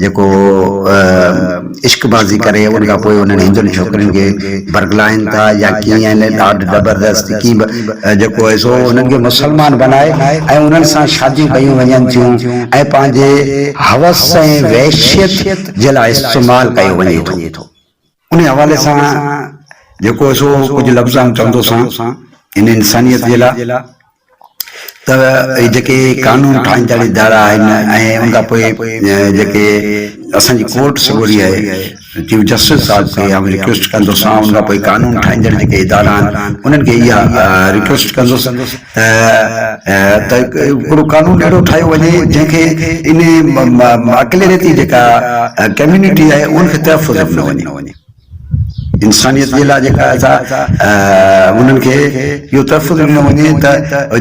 جيڪو عشق بازي ڪري ان کان پوء انهن هندن ڇوڪرين کي برغلائين ٿا يا ڪيئن ان ڏاڍ زبردست ڪي به جيڪو آهي سو انهن کي مسلمان بنائي ۽ انهن سان شاديون ڪيون وڃن ٿيون ۽ پنهنجي هوس ۽ وحشيت جي لاء استعمال ڪيو وڃي ٿو. انهيء حوالي سان جيڪو سو ڪجهه لفظ آئون چوندو سان ان انسانيت جي لاء ته اهي جيڪي قانون ٺاهيندڙ ادارا آهن ۽ ان کان پوء جيڪي اسان جي ڪورٽ سڳوري آهي چيف جسٽس صاحب کي آئون ريڪويسٽ ڪندو سان ان کان پوء قانون ٺاهيندڙ جيڪي ادارا آهن انهن کي اها ريڪويسٽ ڪندس ته هڪڙو قانون اهڙو ٺاهيو وڃي جنهن کي ان اقليتي جيڪا ڪميونٽي آهي ان کي تحفظ ڏنو وڃي انسانيت جي لاء جيڪا انهن کي اهو تحفظ ڏنو وڃي ته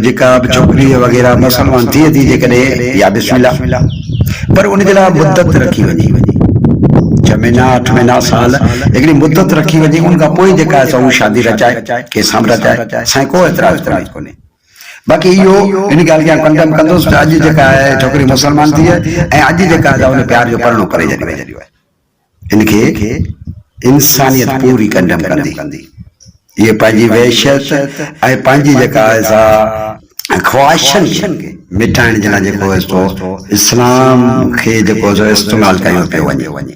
جيڪا به ڇوڪري وغيره مسلمان ٿئي ٿي جيڪڏهن يا بسم الله پر ان جي لاء مدت رکي وڃي ڇهه مهينا اٺ مهينا سال هڪڙي مدت رکي وڃي ان کان پوء جيڪا شادي رچائي کي سامراج آهي سائين ڪو اعتراض ڪونهي باقي اهو ان ڳالهه کي آئون ڪنڊم ڪندس ته اڄ جيڪا آهي ڇوڪري مسلمان ٿي آهي ۽ اڄ جيڪا آهي ان پيار جو پرڻو ڪري ڇڏيو آهي ان کي انسانيت پوري ڪنڊم ڪندي اهي پنهنجي وحشت ۽ پنهنجي جيڪا آهي سا خواهشن کي مٽائڻ جي لاء جيڪو آهي سو اسلام کي جيڪو آهي سو استعمال ڪيو پيو وڃي